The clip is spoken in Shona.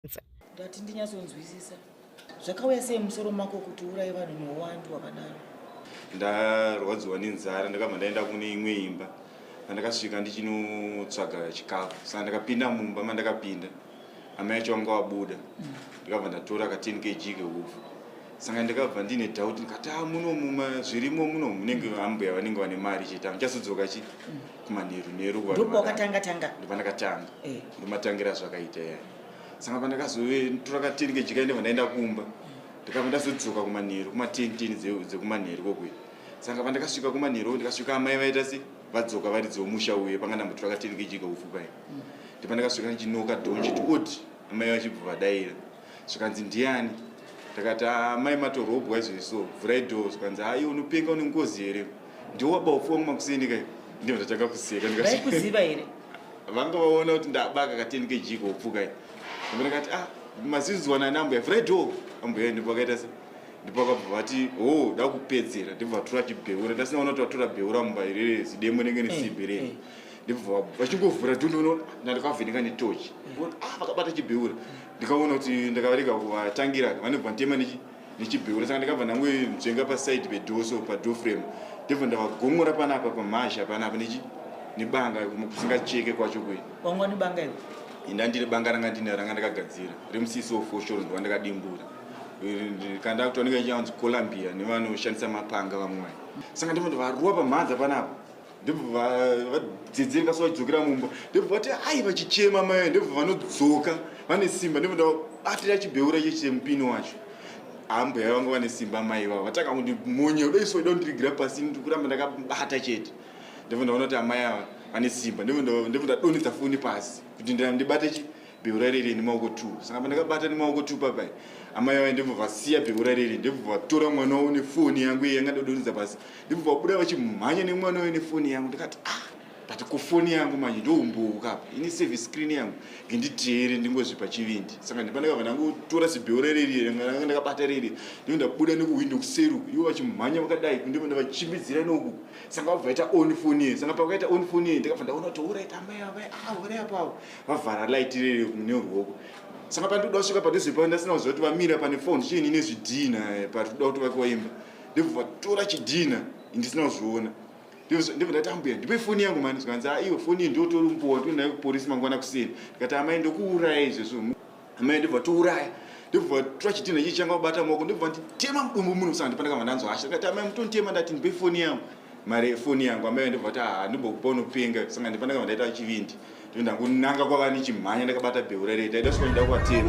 kwanza ndati ndinyatsonzwisisa zvakauya sei musoro mako kuti urai vanhu neuwandu hwakadaro ndarwadziwa nenzara ndakabva ndaenda kune imwe imba andakasvika ndichinotsvaga chikafu saka ndakapinda mumba mandakapinda amai acho vanga vabuda ndikabva ndatora ka 10 kg keufu saka ndikabva ndine doubt ndikati a ah, munomu zvirimo muno munenge ambuya vanenge vane mari chete amuchazodzoka chii kumanheru nheru ndopawakatanga tanga ndopandakatanga eh. ndomatangira zvakaita ya sanga pandakazove tora kateni kejika ndeva ndaenda kumba ndikabva ndazodzoka kumanheru kumatenteni dzekumanheru kokwe sanga pandakasvika kumanheru ndikasvika amai vaita se vadzoka vari dzeomusha uye panga ndambotora kateni kejika ufupai mm. ndipandakasvika ndichinoka dhonji tioti amai vachibva vadaira zvikanzi ndiani ndakati ah, mai matorobwa izvozvi so vhurai dho zvikanzi ayi ah, unopenga une ngozi here ndiwo waba ufuwa mumakuseni kai ndivo ndatanga kuseka ndikakuziva here vanga vaona kuti ndabaka kateni kejiko upfukai ambe ndakati ah maziziwana nambuya vhurai dho ambuya ndipo akaita se ndipo akabva vati ho oh, da kupedzera ndipo vatora chibheura ndasinaona kuti vatora bheura mumba irere zidemo nenge nesimbi rei eh, eh. ndibva vachingovhura dhonono ndandikavheneka netochi ah, vakabata chibheura ndikaona kuti ndakavarega kuvatangira vanobva nditema nechibheura saka ndikabva ndangoenzenga paside pedoso padoframe ndibva ndavagomora panapa pamhazha panapa nechi nebanga kusingacheke kwacho kuye wanga une banga iwe ndandiri banga ranga ndine ranga ndakagadzira remusisi wofoshoro ndova ndakadimbura kandakutondika ichanzi columbia nevanoshandisa mapanga vamwe saka ndimo ndivarua pamhanza panapa ndobva vadzedzereka so vachidzokera mumba ndobva vati ai vachichema mai ndobva vanodzoka vane simba ndobva ndabatira chibeura icho chemupini wacho ambuya vangu vane simba mai vavo vatanga kuti monye udaiswa ida kundirigira pasi ndikuramba ndakabata chete ndobva ndaona kuti amai ava vane simba ndobva ndadonhedza foni pasi kuti ndibate beura riri nemaoko two saka pandakabata nemaoko two papai amai vaye ndibva vasiya beura riri ndibva vatora mwana wavo nefoni yangu iye yanga ndodonidza pasi ndibva vabuda vachimhanya nemwana waye nefoni yangu ndikati ah but kufoni yangu manje ndoumbouka apa ini save screen yangu ndinditeere ndingozvipa chivindi saka ndipandakabva ndangotora zibeura riri ranga ndakabata riri ndiko ndabuda nekuhwindo kuseru ivo vachimhanya vakadai ndiko ndavachimbidzira noku sanga vabva vaita on foni ye sanga pavakaita on foni ye ndakabva ndaona kuti orit amai avai ah uri apavo vavhara light riri kune ruoko saka pandikuda kusvika padhuze pavo ndasina kuziva kuti vamira pane fon chiini nezvidhina eh, pari kuda kuti vakiwa imba ndibva vatora chidhina ndisina kuzviona ndibva ndati ambuya ndipe foni yangu mani zvikanzi aiwe foni iyi ndiotori mbowa ndionayo kuporisi mangwana kuseni ndikati amai ndokuuraya izvezvo amai ndibva tiuraya ndibva tora chidhina ichi changa kubata maoko ndibva nditema mudumbu muno kusaka ndipanda kava ndanzwa hasha ndikati amai mutonditema ndati ndipe foni yangu mari yefoni yangu amai ndibva kuti haa ndimbokupa unopenga saka ndipanda kava ndaita chivindi ndangunanga kwava ndichimhanya ndakabata bheura rei taida sikuva ndida kuvatema